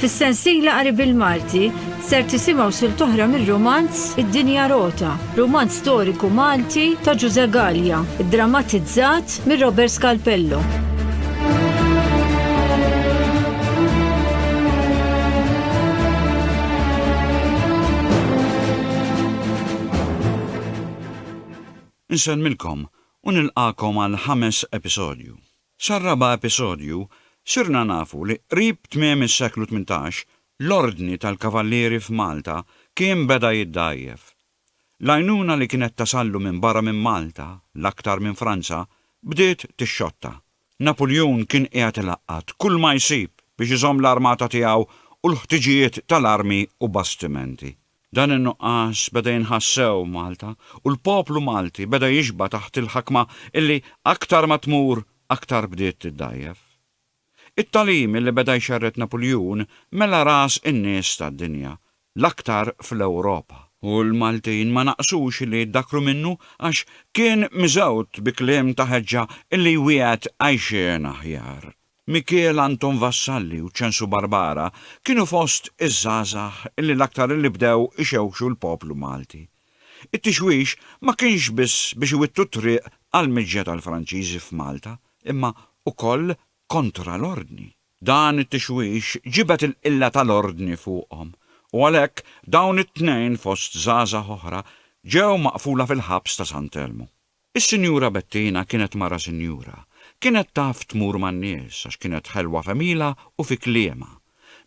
Fis-sensiela qari bil-Malti ser tisimgħu sil toħra mir-romanz Id-Dinja Rota, romanz storiku Malti ta' Ġuże Gallia, drammatizzat mir Robert Scalpello. Nsellmilkom u nilqagħkom għall-ħames episodju. Sar-raba' episodju sirna nafu li qrib tmiem is-seklu tmintax l-Ordni tal-Kavallieri f'Malta kien beda jiddgħajjef. L-għajnuna li kienet tasallu minn barra minn Malta, l-aktar minn Franza, bdiet tixxotta. Napuljun kien qiegħed ilaqqat kull ma jsib biex iżomm l-armata tiegħu u l-ħtiġijiet tal-armi u bastimenti. Dan in-nuqqas beda jinħass sew Malta u l-poplu Malti beda jixba' taħt il-ħakma illi aktar ma tmur aktar bdiet tiddgħajjef. It-tagħlim illi beda jxerred Napuljun mela ras in-nies tad-dinja, l-aktar fl-Ewropa. U l-Maltin ma naqsux illi jiddakru minnu għax kien miżgħud bi kliem ta' ħeġġa illi jwiegħed għajxien aħjar. Mikiel Anton Vassalli u Ċensu Barbara kienu fost iż-żgħażagħ li l-aktar illi bdew ixewwxu l-poplu Malti. It-tixwix ma kienx biss biex iwittu t-triq għall-miġja tal-Franċiżi f'Malta imma ukoll kontra l-Ordni. Dan it-tixwix ġibed il-qilla tal-Ordni fuqhom u għalhekk dawn it-tnejn fost żgħażagħ oħra ġew maqfula fil-ħabs ta' Sant'Elmu. Is-Sinjura Bettina kienet mara sinjura. Kienet taf tmur man-nies għax kienet ħelwa f'għemilha u fi kliemha.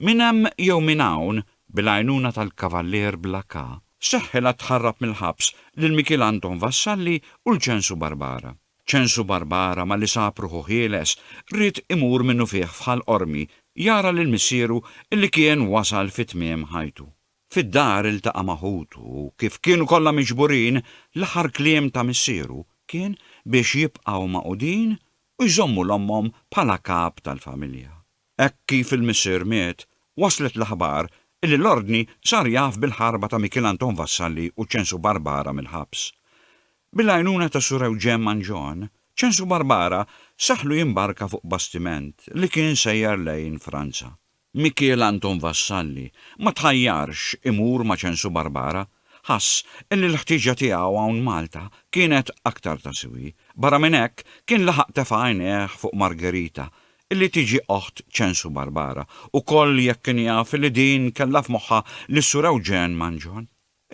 Minn hemm jew minn hawn, bil-għajnuna tal-Kavallier bla K, seħħilha tħarrab mill-ħabs lil Mikiel Anton Vassalli u l-Ċensu Barbara. Ċensu Barbara malli sab ruħu ħieles, ried imur minnufih f'Ħal Qormi jara lil missieru li kien wasal fi tmiem ħajtu. Fid-dar iltaqa' ma' ħutu u kif kienu kollha miġburin, l-aħħar kliem ta' missieru kien biex jibqgħu magħqudin u jżommu 'l ommhom bħala kap tal-familja. Hekk kif il-missier miet, waslet l-aħbar illi l-Ordni sar jaf bil-ħarba ta' Mikiel Anton Vassalli u Ċensu Barbara mill-ħabs. Bil-għajnuna ta' Sur Ewġen Mangion, Ċensu Barbara saħħlu jimbarka fuq bastiment li kien sejjer lejn Franza. Mikiel Anton Vassalli ma tħajjarx imur ma' ċensu Barbara, ħass illi l-ħtieġa tiegħu hawn Malta kienet aktar ta' siwi. Barra minn hekk, kien laħaq tefa' għajnejh fuq Margherita illi tiġi oħt ċensu Barbara, ukoll jekk kien jaf illi din kellha f'moħħha lis-Sur Ewġen Mangion.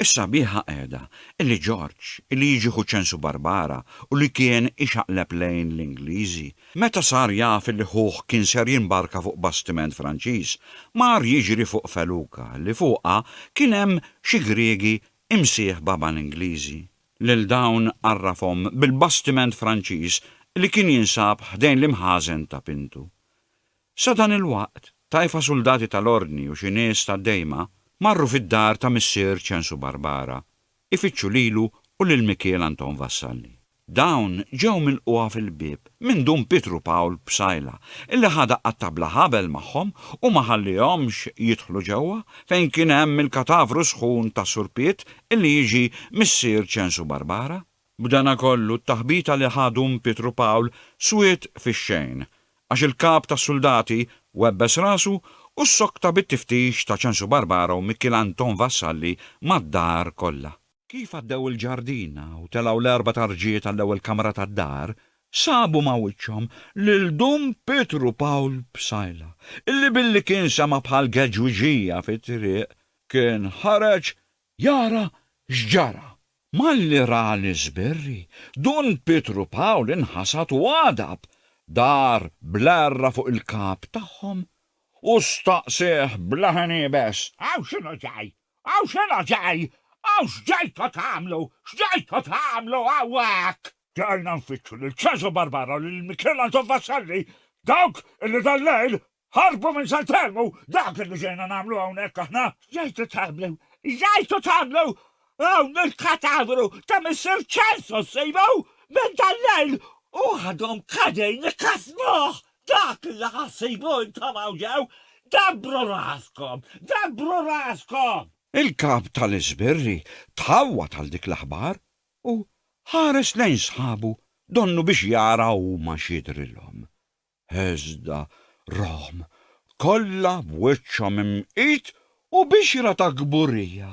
Is-sabiħa qiegħda li Ġorġ, li jiġi ħu ċensu Barbara u li kien ixaqleb lejn l-Ingliżi, meta sar jaf li ħuh kien ser jimbarka fuq bastiment Franċiż, mar jiġri fuq feluka li fuqha kien hemm xi Griegi imsieħba mal-Ingliżi. Lil dawn għarrafhom bil-bastiment Franċiż li kien jinsab ħdejn l-imħażen ta' Pintu. Sadanilwaqt, tajfa suldati tal-Ordni u xi nies tad-Dejma marru fid-dar ta' missier Ċensu Barbara, ifittxu lilu u lil Mikiel Anton Vassalli. Dawn ġew milqugħa fil-bieb minn Dun Pietru Pawl Psaila, illi ħadha għat-tabla ħabel magħhom u ma ħallihomx jidħlu ġewwa fejn kien hemm il-katavru sħun ta' Sur Piet illi jiġi missier Ċensu Barbara. B'danakollu, t-taħbita li ħa dun Pietru Pawl swiet fix-xejn, għax il-kap tas-suldati webbes rasu u ssokta bit-tiftix ta' Ċensu Barbara u Mikiel Anton Vassalli mad-dar kollha. Kif għaddew il-ġardina u telgħu l-erba' tarġiet għall-ewwel kamra tad-dar, sabu ma' wiċċhom lil dun Pietru Pawl Psaila, illi billi kien sema' bħal geġwiġija fit-triq, kien ħareġ Jara x'ġara. Malli ra l-iżbirri, Dun Pietru Pawl inħasad u għadab, dar bl-għerra fuq il-kap tagħhom u staqsieh bla ħin iebes. Hawn x'inhu ġej? Hawn x'inhu ġej? Hawn x'ġejtu tagħmlu? X'ġejtu tagħmlu hawnhekk? Ġejna nfittxu lil Ċesu Barbaro, lil Michelangelo Vassalli, dawk illi dal-lejl Ħarbu minn San Telmu! Dak li ġejna nagħmlu hawnhekk aħna! Ġejtu tagħmlu? Ġejtu tagħmlu? Hawn il-katavru ta' Missier Celso ssibu minn dal-lejl u għadhom qegħdin ikasnuh! Dak li ħa ssibu intom hawn ġew! Dabbru raskom! Dabbru raskom! Il-Kap tal-Iżbirri tħawwad għal dik l-aħbar u ħares lejn sħabu donnu biex jara huma x'jidhrilhom. Hesda, Rom, kollha b'wiċċhom imqit u bixra ta' kburija,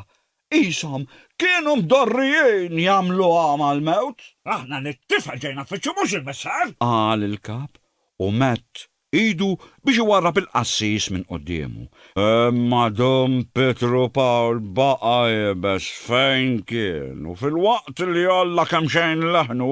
qishom kienu mdorrijin jagħmlu għama għall-mewt. Aħna lit-tifel ġejna f'wiċċu mhux il-Missar! Qal il-Kap u medd idu biex iwarrab il-qassis minn quddiemu. Imma Dun Pietru Pawl baqa' iebes fejn kien u filwaqt li għolla kemxejn leħnu,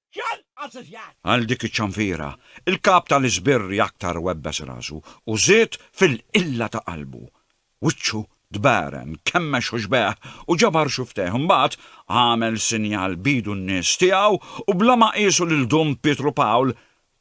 Xogħol assoċjat. Għal dik iċ-ċanfira, il-kap tal-iżbirri aktar webbes rasu u żied fil-qilla ta' qalbu. Wiċċu tbagħren, kemmex u xbeħ u ġabar xuftejh, imbagħad għamel sinjal b'idu n-nies tiegħu u bla ma qiesu lil Dun Pietru Pawl,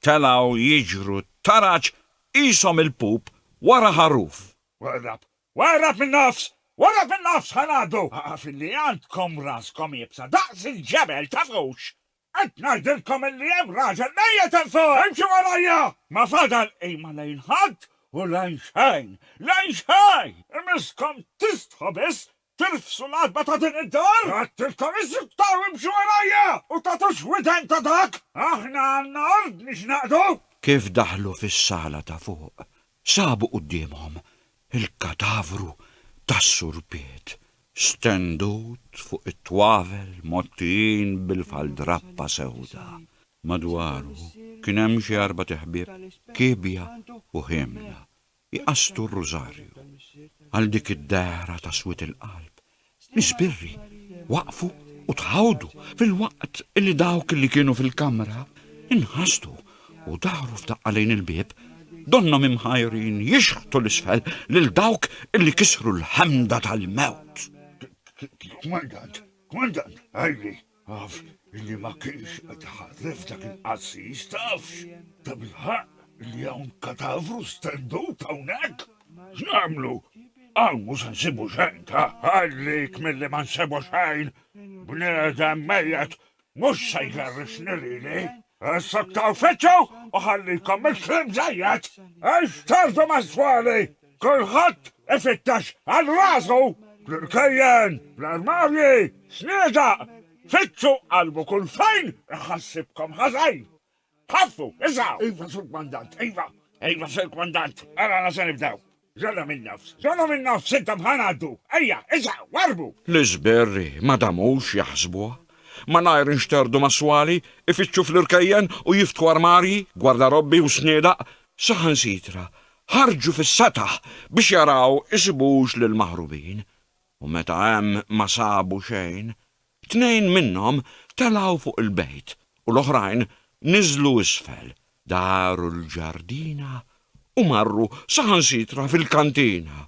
telgħu jiġru t-taraġ qishom il-pup wara ħaruf. Warrab Warrab in-nofs! Warrab in-nofs ħa ngħaddu! Ahaa filli għandkom raskom iebsa daqs il-ġebel tafux! Qed ngħidilkom illi hemm raġel mejjet hemm fuq! Imxu warajja! Ma fadal qima lejn ħadd u lejn xejn! Lejn xejn! Imisskom tistħu biss tirfsu l-għatba ta' din id-dar! Għedtilkom issuktaw imxu warajja! U tagħtux widen ta' dak! Aħna għandna ordni x'naqdu! Kif daħlu fis-sala ta' fuq, Sabu quddiemhom il-katavru tas-Sur Piet, stendut fuq it-twavel mgħottijin bil-faldrappa sewda. Madwaru kien hemm xi arbat iħbieb, kiebja u ħiemla, jqassdu r-rużarju. Għal dik id-dehra ta' swied il-qalb, L-ispirri waqfu u tħawdu filwaqt li dawk li kienu fil-kamra nħastu u dahru f'daqqa lejn il-bieb, donnhom imħajrin jixħtu 'l isfel lil dawk li kisru l-ħemda tal-mewt. Kmandant, kmandant, għalli! Għaf illi ma kienx qed iħarref dak il-qassis, tafx? Tabilħaqq illi hawn katavru stendut hawnhekk? X'nagħmlu? Hawn mhux se nsibu xejn, ta' ħallik milli ma nsibu xejn! Bniedem mejjet mhux se jgerrixni lili! Issuktaw fiċċu u ħallikom mill-kliem żejjed! Ixtardu mas-swali! Kulħadd ifittex għal rasu! Fl-irkejjen, fl-armarji, xniedaq! Fittxu qalbu kull fejn iħassibkom ħażin! Ħaffu, isgħu! Iva, Sur Kmandant, iva! Iva, Sur Kmandant, ara għala se nibdew! Żollhom in-nofs! Żollhom in-nofs intom ħa ngħaddu! Ejja, isgħu, warrbu! L-iżberri ma damux jaħsbuha. Malajr inxterdu mas-swali, ifittxu fl-irkejjen u jiftħu armarji, gwardarobbi u sniedaq, saħansitra ħarġu fis-sataħ biex jaraw isibux lill-maħrubin. U meta hemm ma sabu xejn, Tnejn minnhom telgħu fuq il-bejt u l-oħrajn niżlu isfel, daru l-ġardina u marru saħansitra fil-kantina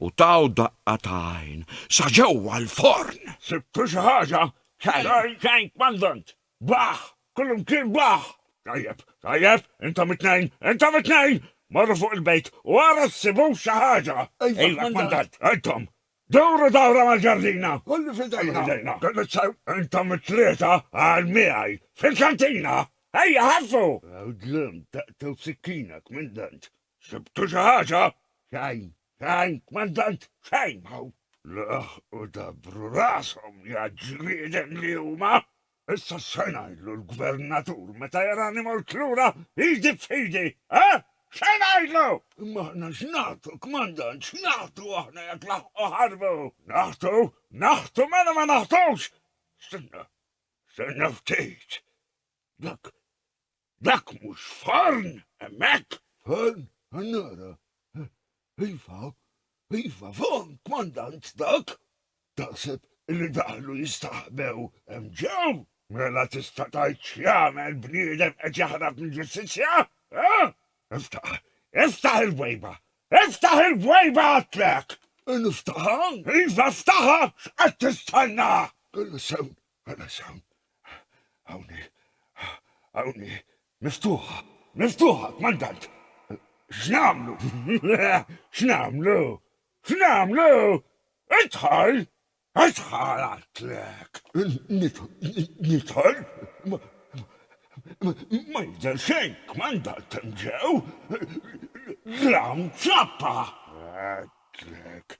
u taw daqqa ta' għajn sa ġewwa l-forn! Sibtu xi ħaġa? Xejn, xejn, Kmandant! Baħħ! Kullimkien baħħ! Tajjeb, tajjeb, intom it-tnejn, intom it-tnejn! Morru fuq il-bejt u ara ssibux xi ħaġa! Iva, Kmandant! Intom, Duru dawra mal-ġardina. Kollu f'idejna. Kelli sew intom it-tlieta għal miegħi fil-kantina. Ejja ħaffu! Ew dlimt daqtew sikkina, Kmandant. Sibtu xi ħaġa? Xejn, xejn, Kmandant, xejn! Hawn! Laħqu dabbru rashom, ja ġrieden li huma! Issa x'se ngħidlu l-gvernatur meta jarani mort lura idi f'idi, eh? X'se ngħidlu? Imma aħna x'nagħtu, Kmandant, x'nagħtu aħna jekk laħqu ħarbu? Nagħtu? Nagħtu mela ma nagħtux! Stenna, stenna ftit. Dak, Dak mhux forn, hemmhekk? Forn? Nara. Iva, iva, forn, Kmandant, dak. Taħseb illi daħlu jistaħbew hemm ġew? Mela tista' tgħid x'jagħmel bniedem qed jaħrab mill-ġustizzja? Ha? Iftaħ, iftaħ il-bwejba! Iftaħ il-bwejba għidtlek! Niftaħha? Iva ftaħha, x'qed tistenna? Kellha sew Ħalas hawn, hawn hi, hawn hi. Miftuħa, miftuħa, kmandant! X'nagħmlu? X'nagħmlu? X'nagħmlu? Idħol! Idħol għatlek! Nidħol? Ma jidher xejn, kmandant hemm ġew! L-hawn ċappa! Għatlek,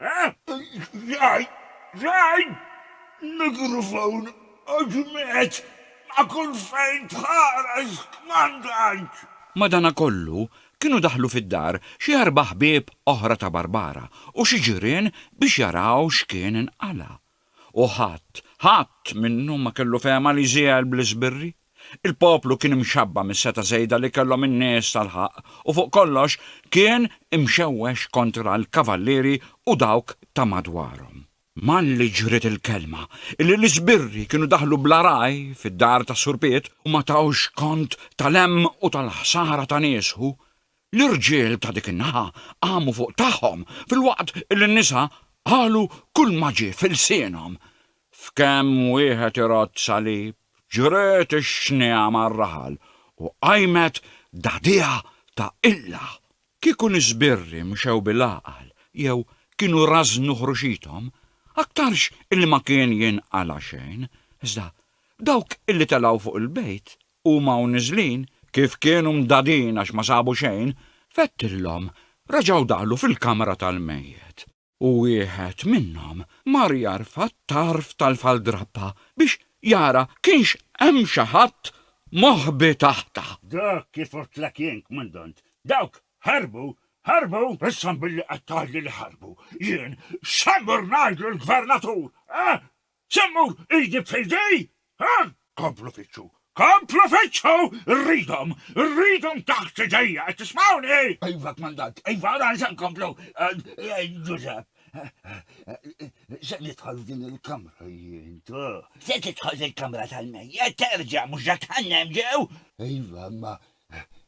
Jgħid, jgħid, mikrofon u ġmiegħ ma' kull fejn tħares kmandant! Madanakollu, kienu daħlu fid-dar xi erba' ħbieb oħra ta' Barbara u xi ġirien biex jaraw x'kien inqala'. U ħadd, ħadd minnhom ma kellu fehma li jżiegħel bl-iżbirri. Il-poplu kien imxabba' mis-setgħa żejda li kellhom in-nies tal-ħaqq u fuq kollox kien imxewwex kontra l-kavallieri u dawk ta' madwarhom. Malli ġriet il-kelma illi l-iżbirri kienu daħlu bla ragħaj fid-dar tas-Sur Piet u ma tawx kont tal-hemm u tal-ħsara ta' nies hu, L-irġiel ta' dik in-naħa qamu fuq tagħhom filwaqt li n-nisa qalu kulma ġie f'ilsienhom. F'kemm wieħed irodd salib, ġriet ix-xniegħa mar-raħal u qajmet dagħdigħa ta' qilla. Kieku l-iżbirri mxew bil-għaqal jew kienu rażżnu ħruxithom, aktarx illi ma kien jinqala' xejn, iżda dawk illi telgħu fuq il-bejt Huma u niżlin, kif kienu mdagħdin għax ma sabu xejn, fettilhom, reġgħu daħlu fil-kamra tal-mejjet. U wieħed minnhom mar jarfa' t-tarf tal-faldrappa biex jara kienx hemm xi ħadd moħbi taħtha. Dak kif għidtlek jien, Kmandant. Dawk ħarbu! Ħarbu! Issa billi qed tgħidli li ħarbu, jien x'se mmur ngħid lill-Gvernatur, eh? Se mmur idi f'idi? Haa? Komplu fittxu! Komplu fittxu! Irridhom! Irridhom taħt idejja! Qed tismgħuni? Iva, Kmandant. Iva, ara se nkomplu. Ġużepp, Se nidħol f'din il-kamra jien, tu. Se tidħol fil-kamra tal-mejjet, terġa', mhux ġa tħannem ġew? Iva, imma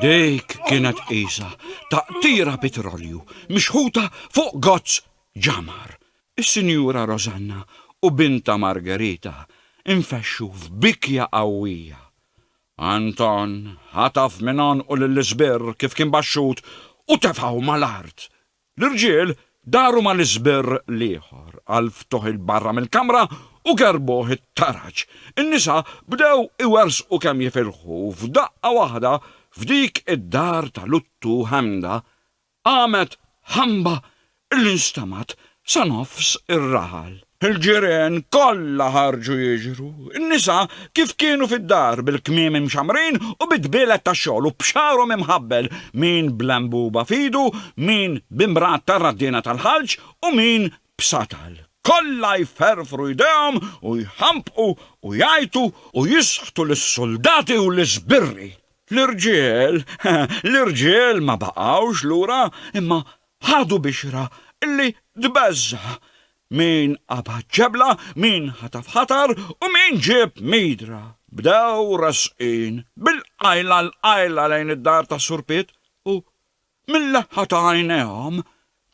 Dik kienet qisa taqtira pitrolju mixħuta fuq gozz ġamar. Is-Sinjura Rosanna u bintha Margherita nfexxu f'bikja qawwija. Anton ħataf minn għonqu lill-isbirr kif kien baxxut u tefgħu mal-art L-irġiel daru mal-iżbirr l-ieħor għall-ftuħ 'il barra mill-kamra u gerbuh it-taraġ. In-nisa bdew iwerżqu kemm jifilħu u f'daqqa waħda f'dik id-dar ta' luttu ħemda qamet ħamba li nstemgħet sa nofs ir-raħal. Il-ġirien kollha ħarġu jiġru. In-nisa kif kienu fid-dar, bil-kmiem imxammrin u bi dbielet tax-xogħol u b'xagħarhom imħabbel, min bl-għenbuba f'idu, min b'imbrat tar-raddiena tal-ħalġ u min b'satal. Kollha jferfru jdejhom u jħampqu u jgħajtu u jisħtu lis-suldati u l-iżbirri. L-irġiel, l-irġiel ma baqgħux lura, imma Ħadu bixra li tbeżża'. Min qabad ġebla, min ħataf ħatar u min ġieb midra, bdew resqin bil-qajla 'l qajla lejn id-dar tas-Sur Piet u, mil-leħħa ta' għajnejhom,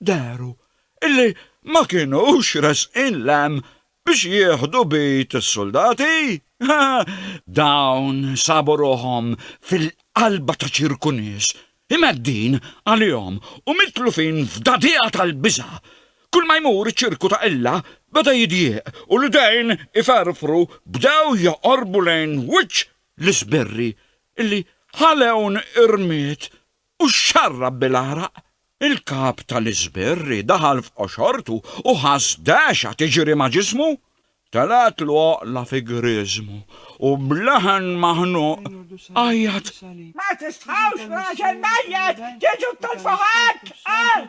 dehru li ma kinux resqin 'l hemm biex jieħdu bid is-suldati? Dawn sabu ruħhom fil-qalba ta' ċirku nies, imgħeddin għalihom u mitlufin f'dagħdigħa tal-biża'. Kulma jmur iċ-ċirku ta' Ella beda jidjieq u l-idejn iferfru bdew joqorbu lejn wiċċ l-isbirri li ħalewn irmied u xxarrab bil-għaraq, il-kap tal-iżbirri daħal f'qoxortu u ħass dehxa tiġri ma' ġismu. Telgħetlu għoqla fi grieżmu u b'leħen maħnuq għajjat. Ma tistħawx b'raġel mejjet tiġu ttilfu ħadd, qal.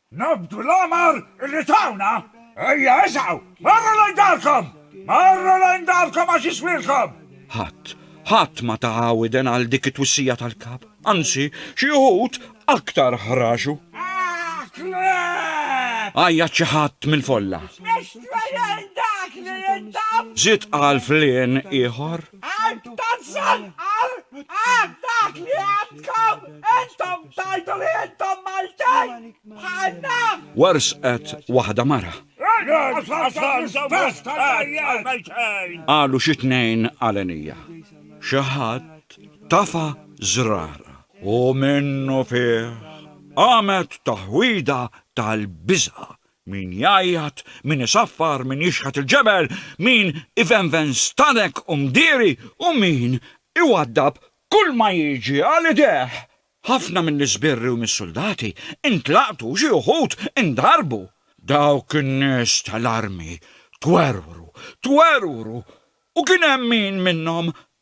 Nobdu l-amar li tawna! Ejja isgħu! Morru lejn darkom! Morru lejn darkom għax jiswilkom! Ħadd, ħadd ma ta widen għal dik it-twissija tal-Kap. Anzi, xi wħud aktar ħraxu. Aah, kleb! Għajjat xi ħadd mill-folla. X'nixtri jien dak li jintab? Żied qal flien ieħor. Għid ta' żanqar għal dak li għandkom intom tgħidu li intom Maltin bħalna! Wersqet waħda mara. Raġel Ħasan se wersqet għall-Maltin! Qalu xi tnejn għalenija. Xi ħadd tafa' żrara. U minnufih qamet taħwida tal-biża' Min jgħajjat, min isaffar, min jixħet il-ġebel, min ivenven stadek u mdieri u min iwaddab kulma jiġi għal idejh. Ħafna mill-iżbirri u mis-suldati intlaqtu u xi uħud indarbu. Dawk in-nies tal-armi twerwru, twerwru u kien hemm min minnhom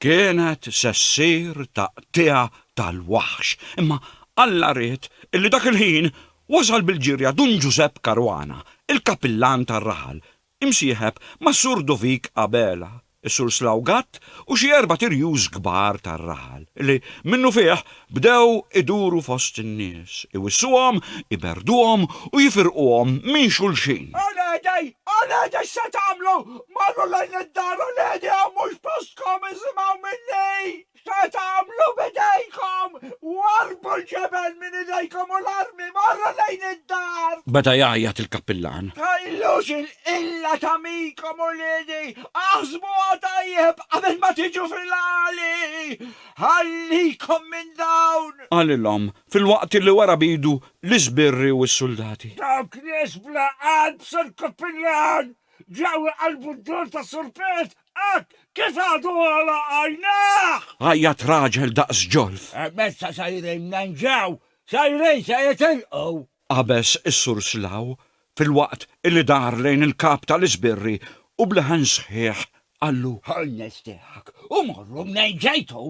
Kienet se ssir taqtigħa tal-waħx, imma Alla ried illi dak il-ħin wasal bil-ġirja Dun Ġużepp Caruana, il-Kapillan tar-raħal, imsieħeb mas-Sur Dovik Abela, is-Sur Slaw Gatt u xi erbat irjus kbar tar-raħal, li, minnufih, Bdew iduru fost in-nies, iwissuhom, iberrduhom u jifirquhom minn xulxin. Uliedi, uliedi x'se tagħmlu? Morru lejn id-dar, uliedi, hawn mhux postkom, isimgħu minni! X'se tagħmlu b'idejkom? Warrbu l-ġebel minn idejkom u l-armi, morru lejn id-dar! Beda jgħajjat il-kappillan. Tħallux il-qilla tagħmikom, uliedi! Aħsbuha tajjeb qabel ma tiġu fil-għali! Ħallikom minn dawn! Qalilhom, filwaqt li wera b'idu l-iżbirri u s-suldati. Dawk nies bla qalb, Sur Kappillan! Ġew iqallbu d-dol ta' Sur Pit hekk kif għadu għolaq għajnejh! Għajjat raġel daqs ġolf. Hemmhekk sa sejrin minn hemm ġew! Sejrin se jitilqu! qabeż is-Sur Slough filwaqt li dar lejn il-Kap tal-Isbirri u b'leħen sħiħ qallu. Hu nixtieqek u morru mnejn ġejtu!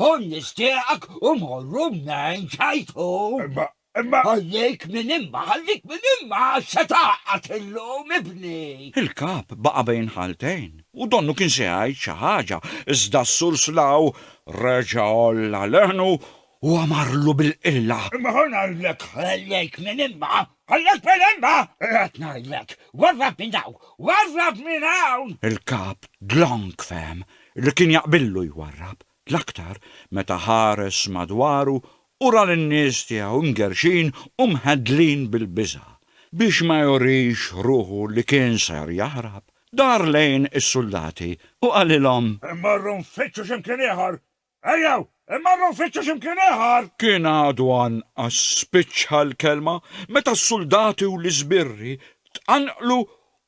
Hu nixtieqek u morru mnejn ġejtu! Imma, imma. Ħallik minn imma, ħallik minn imma għax se tgħaqqad illum, ibni! Il-Kap baqa' bejn ħaltejn u donnu kien se jgħid xi ħaġa, iżda s-Sur Slough reġa' għolla leħnu u għamarlu bil-qilla. Imma ħa ngħidlek, ħallejk minn imma, ħallejk minn imma! Qed ngħidlek, warrab minn hawn, warrab minn hawn! Il-Kap Dlonk fehem li kien jaqbillu jwarrab, l-aktar meta ħares madwaru u ra lin-nies tiegħu mgerrxin u mheddlin bil-biża'. Biex ma jurix ruħu li kien ser jaħrab, dar lejn is-suldati u qalilhom. Immorru nfittxu x'imkien ieħor, Ejjew, immorru nfittxu xi mkien ieħor! Kien għadu anqas spiċċa l-kelma meta s-suldati u l-iżbirri tqanqlu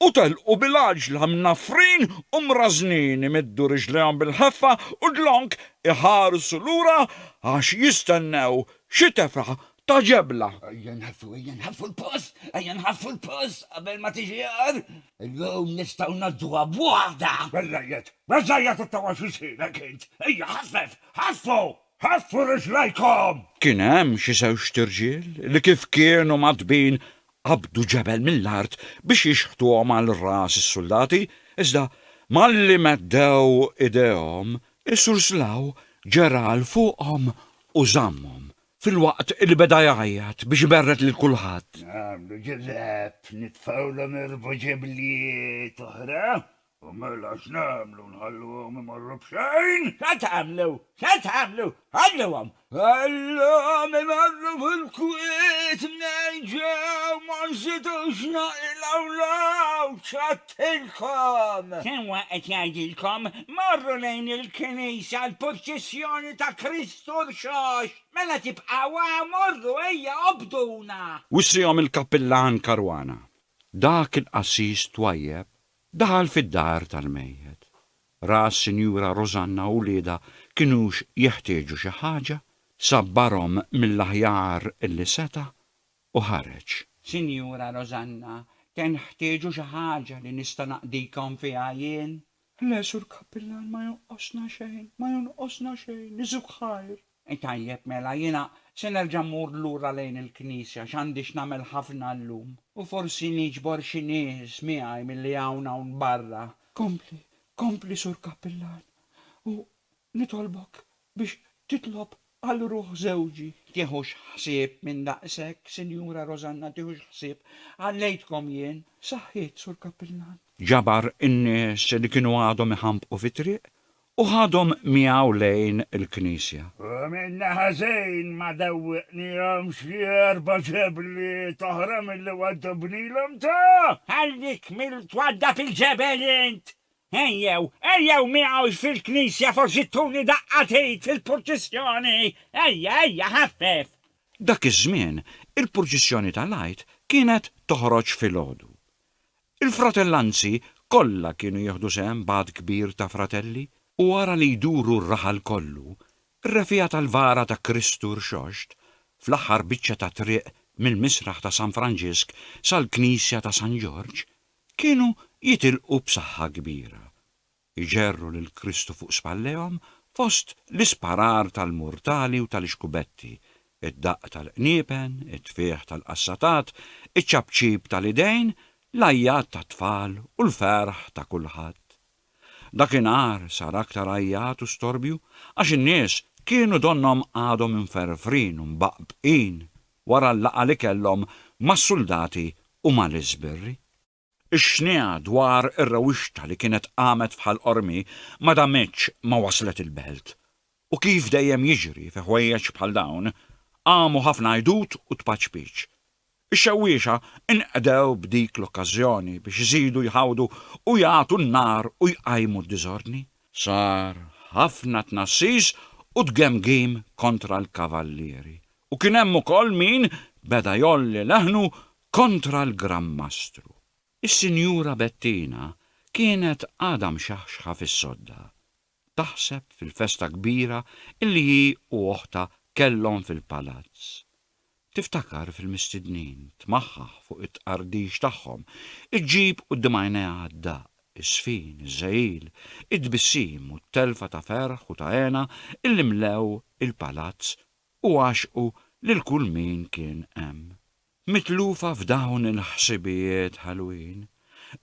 u telqu bil-għaġla mnaffrin u mrażżnin imiddu riġlejhom bil-ħeffa u dlonk iħarsu lura għax jistennew xi tefgħa ta' ġebla. Ejja nħaffu, ejja nħaffu l-post, ejja nħaffu l-post qabel ma tiġi għar. Illum nistgħu ngħadduha b'waħda. Beżżejjed, beżżejjed it-tawwa x'isirek int. Ejja ħaffef, ħaffu, ħaffu riġlejkom! Kien hemm xi żewġt irġiel li kif kienu mgħaddbin qabdu ġebel mill-art biex jixħtuhom għal ras is-suldati, iżda malli meddew idejhom, is-Sur Slaw ġera 'l fuqhom u żammhom filwaqt li beda jgħajjat biex iberred lil kulħadd. Nagħmlu ġillab, nitfgħulhom irbu ġeblijiet oħra, u mela x'nagħmlu, nħalluhom imorru b'xejn? X'għad tagħmlu? X'għad tagħmlu? Ħalluhom! Ħalluhom imorru fil-kwiet mnejn ġew, ma nżidux naqilgħu l-għawd, x'għedtilkom? Sewwa qed jgħidilkom, morru lejn il-knisja għall-purċissjoni ta' Kristu. Sur Xox, mela tibqgħu hawn, morru ejja obbduna! Wissihom il-kappillan Caruana. Dak il-qassis twajjeb daħal fid-dar tal-mejjet. Ra s-Sinjura Rosanna u wliedha kinux jeħtieġu xi ħaġa, sabbarhom mill-aħjar li seta' u ħareġ. Sinjura Rosanna, tenħtieġu xi ħaġa li nista' naqdikom fiha jien? L-għex u l-kappillan ma jonqosna xejn, ma jonqosna xejn, isu b'ħajr. Tajjeb mela, jiena se nerġa' mmur lura lejn il-knisja għax għandi x'nagħmel ħafna llum. U forsi niġbor xi nies miegħi milli hawn hawn barra. Kompli, kompli sur kappillan, u nitolbok biex titlob għal ruħ żewġi. Tiħux ħsieb minn daqshekk, Sinjura Rosanna, tiħux ħsieb. Għallejtkom jien. Saħħiet, Sur Kappillan. Ġabar in-nies li kienu għadhom iħambqu fit-triq u ħadhom miegħu lejn il-knisja. U minna ħażin ma dewwiqnihomx xi erba' ġebliet oħra milli waddubnilhom ta? Ħallik mill-twaddab il-ġebel int! Ejjew, ejjew miegħux fil-knisja forsi tuni daqqa t'id fil-purċissjoni. Ejja, ejja, ħaffef. Dak iż-żmien, il-purċissjoni tal-Għid kienet toħroġ filgħodu. Il-fratellanzi kollha kienu jieħdu sehem b'għadd kbir ta' fratelli, u wara li jduru r-raħal kollu, r-refiegħa tal-vara ta' Kristu Rxoxt, fl-aħħar biċċa ta' triq mill-misraħ ta' San Franġisk sal-knisja ta' San Ġorġ, Kienu jitilqu b'saħħa kbira, iġerru lil Kristu fuq spallejhom fost l-isparar tal-murtali u tal-ixkubetti, id-daqq tal-qniepen, it-tfigħ tal-qassatat, iċ-ċapċip tal-idejn, l-għajjat tat-tfal u l-ferħ ta' kulħadd. Dakinhar sar aktar għajjat u storbju għax in-nies kienu donnhom għadhom imferfrin u mbaqbqin wara l-laqgħa li kellhom mas-suldati u mal-iżbirri. Ix-xniegħa dwar ir-rewixta li kienet qamet f'Ħal Qormi ma damitx ma waslet il-belt U kif dejjem jiġri fi ħwejjeġ bħal dawn, qamu ħafna għidut u tpaċpiċ. Ix-xewwiexa nqdew b'dik l-okkażjoni biex iżidu jħawdu u jagħtu n-nar u jqajmu d-diżordni. Sar ħafna tnassis u tgemgim kontra l-kavallieri u kien hemm ukoll min beda jgħolli leħnu kontra l-Gran Mastru. Is-Sinjura Bettina kienet għadha mxaħxħa fis-sodda. taħseb fil-festa kbira illi hi u oħtha kellhom fil-palazz. Tiftakar fil-mistednin, tmaħħaħ fuq it-tqardix tagħhom, iġġib quddiem għajnejha d-daqq, iż-żfin, iż-żegħil, it-tbissim u t-telfa ta' ferħ u ta' hena illi mlew il-palazz u għaxqu lil kull min kien hemm. Mitlufa f'dawn il-ħsibijiet ħelwin,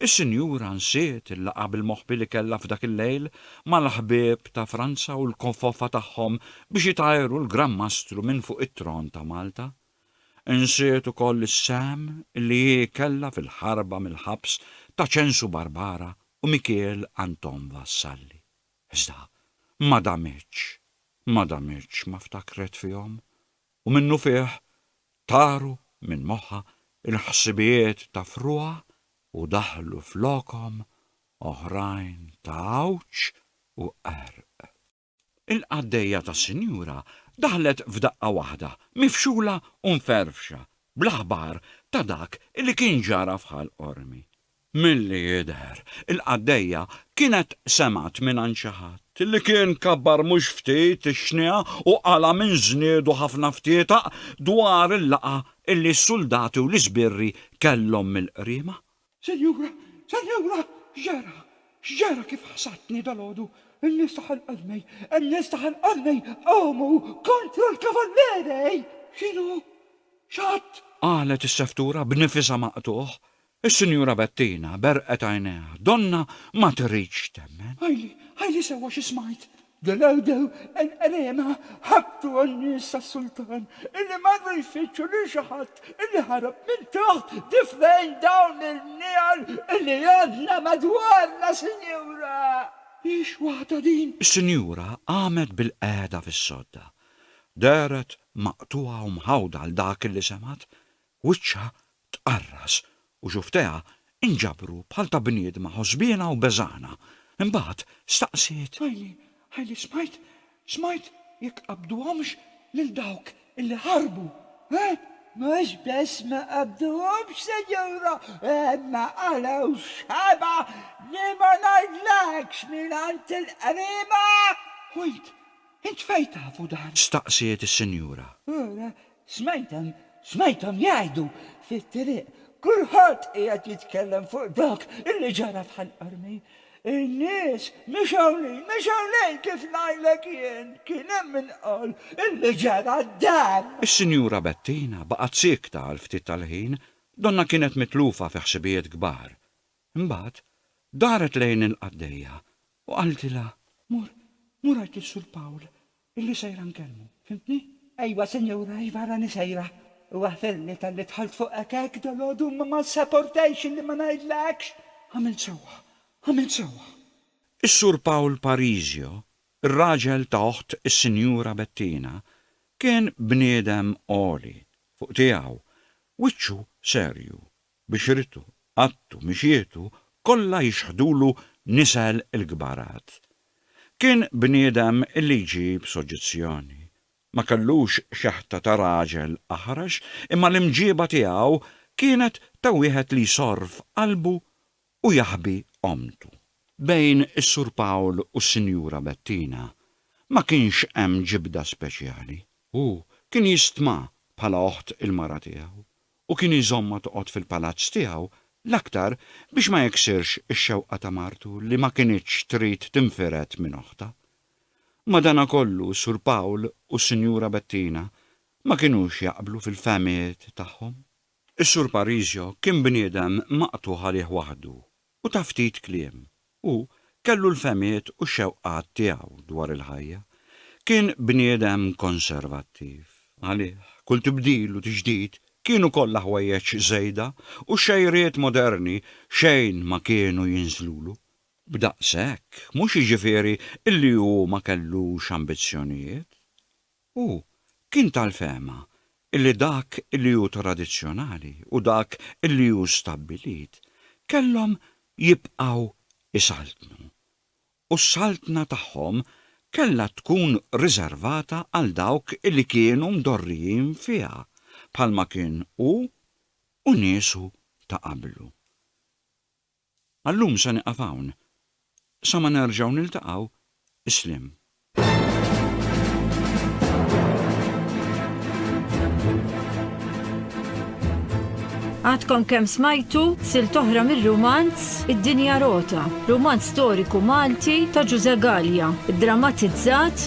is-sinjura nsiet il-laqgħa bil-moħbi li kellha f'dak il-lejl mal-ħbieb ta' Franza u l-kofofa tagħhom biex itajru l-Gran Mastru minn fuq it-tron ta' Malta. Insiet ukoll is-sehem li hi kellha fil-ħarba mill-ħabs ta' Ċensu Barbara u Mikiel Anton Vassalli. Iżda ma damitx, ma damitx ma ftakret fihom u minnufih taru minn moħħha l-ħsibijiet ta' fruha u daħlu flokhom oħrajn ta' għawġ u qerq. Il-qaddejja tas-sinjura daħlet f'daqqa waħda mifxula u mferrfxa bl-aħbar ta' dak li kien ġara f'Ħal Qormi. Milli jidher, il-qaddejja kienet semgħet mingħand xi ħadd li kien kabbar mhux ftit ix-xniegħa u qala' minn żniedu ħafna ftietaq dwar il-laqgħa li s-suldati u l-isbirri kellhom mill-qriema. Sinjura, sinjura, x'ġara? X'ġara kif ħsadtni dalgħodu? In-nies ta' Ħal Qarnej, in-nies ta' Ħal Qarnej qamu kontra l-Kavalleri! X'inhu? X'għadd? Qalet is-seftura b'nifisha maqtugħ. Is-Sinjura Bettina berqet għajnejha. Donna ma tridx temmen. Għidli, għidli sewwa xi smajt! Ġenewdew qenqerena ħabtu għan-nies tas-sultan illi marru jfittxu lil xi ħadd illi ħarab minn taħt difrejn dawn il-bniegħel illi għandna madwarna, Sinjura! Hix waħda din! Is-Sinjura qamet bilqiegħda fis-sodda. Dehret maqtugħa u mħawda għal dak illi semgħet. Wiċċha tqarras u xufftejha inġabru bħal ta' bniedma ħosbiena u beżgħana. Imbagħad staqsiet. Għajni, għajni smajt, smajt jekk qabduhomx lil dawk illi ħarbu, eh? Mhux biss ma qabduhomx, Sinjura, imma qalew xebgħa li ma ngħidlekx mingħand il-qriba! Wait, int fejn tafu dan? Staqsiet is-Sinjura. Ara, Smajthom, smajthom jgħidu fit-triq, kulħadd qiegħed jitkellem fuq dak li ġara f'Ħal Qormi. In-nies mexew lil, mexew lejn kif ngħidlek jien, kien hemm min qal li ġara dan! Is-Sinjura Bettina baqgħet siekta għal ftit tal-ħin, donnha kienet mitlufa fi ħsibijiet kbar. Imbagħad, daret lejn il-qaddejja u qaltilha. Mur, mur għid lis-Sur Pawl Illi sejra nkellmu. Fhimtni? Ejwa, sinjura, iva rani sejra. Huwa ferni talli dħalt fuqek hekk dalgħodu imma ma ssaportajx illi ma ngħidlekx. Għamilt sewwa. Għamilt sewwa. Is-Sur Pawl Parisio, ir-raġel ta' oħt is-Sinjura Bettina, kien bniedem għoli fuq tiegħu, wiċċu serju, bixritu, qaddtu, mixietu, kollha jixħdulu nisel il-kbarat. Kien bniedem li jġib soġġezzjoni. Ma kellux xeħta ta' raġel aħrax, imma l-imġieba tiegħu kienet ta' wieħed li jsorr f'qalbu u jaħbi ommtu. Bejn is-Sur Pawl u s-Sinjura Bettina ma kienx hemm ġibda speċjali. Hu kien jistma bħala oħt il-mara tiegħu u kien iżommha toqgħod fil-palazzz tiegħu, l-aktar biex ma jiksirx ix-xewqa ta' martu li ma kinitx trid tinfired minn oħtha. Madanakollu Sur Pawl u s-Sinjura Bettina ma kinux jaqblu fil-fehmiet tagħhom. Is-Sur Parisio kien bniedem maqtugħ għalih waħdu u ta' ftit kliem. Hu kellu l-fehmiet u x-xewqat tiegħu dwar il-ħajja. Kien bniedem konservattiv. Għalih, kull tibdil u tiġdid kienu kollha ħwejjeġ żejda u x-xejriet moderni xejn ma kienu jinżlulu. B'daqshekk, mhux jiġifieri illi hu ma kellux ambizzjonijiet. Hu kien tal-fehma li dak li hu tradizzjonali u dak li hu stabbilit kellhom jibqgħu jsaltnu, u s-saltna tagħhom kellha tkun riservata għal dawk li kienu mdorrijin fiha, bħalma kien hu u niesu ta' qablu. Għal-lum se nieqaf hawn. Sa ma nerġgħu niltaqgħu, isliem. Għadkom kemm smajtu silt oħra mir-rumanz Id-Dinja Rota, rumanz storiku Malti ta' Ġużè Galea, iddramatizzat